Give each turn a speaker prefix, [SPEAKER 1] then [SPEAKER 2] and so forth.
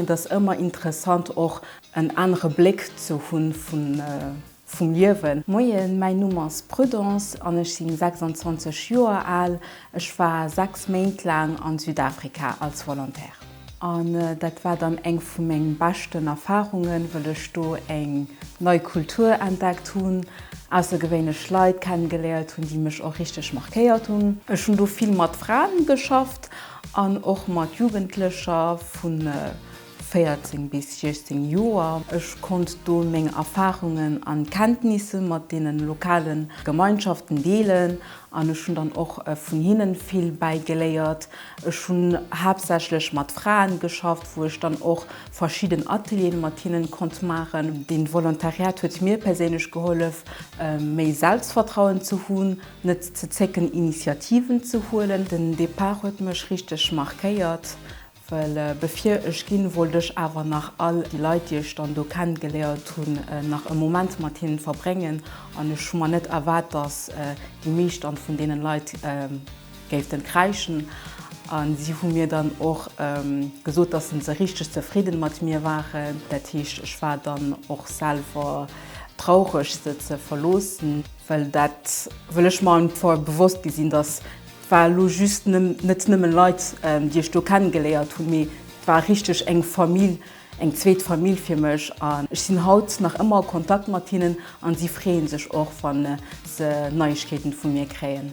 [SPEAKER 1] Et ass ëmmer interessant och en anere Bléck ze hunn vum Liewen. Moien, mäin Numm ass Prudence an ech sinn 26 Joer al. Ech war 6 Méint laang an Südafrika als Volontaire. An dat war dann eng vu mengen beschten Erfahrungen, wëll ech do eng nei Kultur entdeckt hunn, aussergewéinlech Leit kennengeléiert hunn, déi mech och richteg markéiert hunn. Ech hunn do vill mat Fraen geschafft An och mat Jugendlecher vu 14 bis 16 Joer. Ech konnt do meng Erfarungen an Kenntnisse mat deenen lokale Gemeinschaften deelen an ech hunn dann och vun hinnen vill bäigeléiert. Ech hunn haaptsächlech mat Fraen geschafft, wou ech dann och verschidden Atelieren mat hinnen konnt maachen. Deen Volontariat huet mir perséinlech gehollef méi Selbstvertrauen ze hunn. Net ze zécken Initiativen ze huelen. Den Départ huet mech richteg markéiert, well bevir ech ginn, wollt ech awer nach all déi Leit, déi ech dann do kennegeléiert hunn, nach e Moment mat hinnen verbréngen an ech hu mer net erwaart, dass déi meescht dann vun deenen Leit géiften kräischen an si hu mir dann och gesot, dass se se richteg zefridden mat mir waren. Dat heescht, ech war dann och selwer traureg se ze verloossen. well dat wëll ech mer einfach fort bewosst gi sinn, datt war elo just net nëmmen Leit déi ech do kennen geléiert hunn, mee et war richteg eng Famill, eng zweet Famill fir mech an ech sinn haut nach ëmmer a Kontakt mat hinnen an si freeën sech och wann se Neiegkeeten vu mir kréien.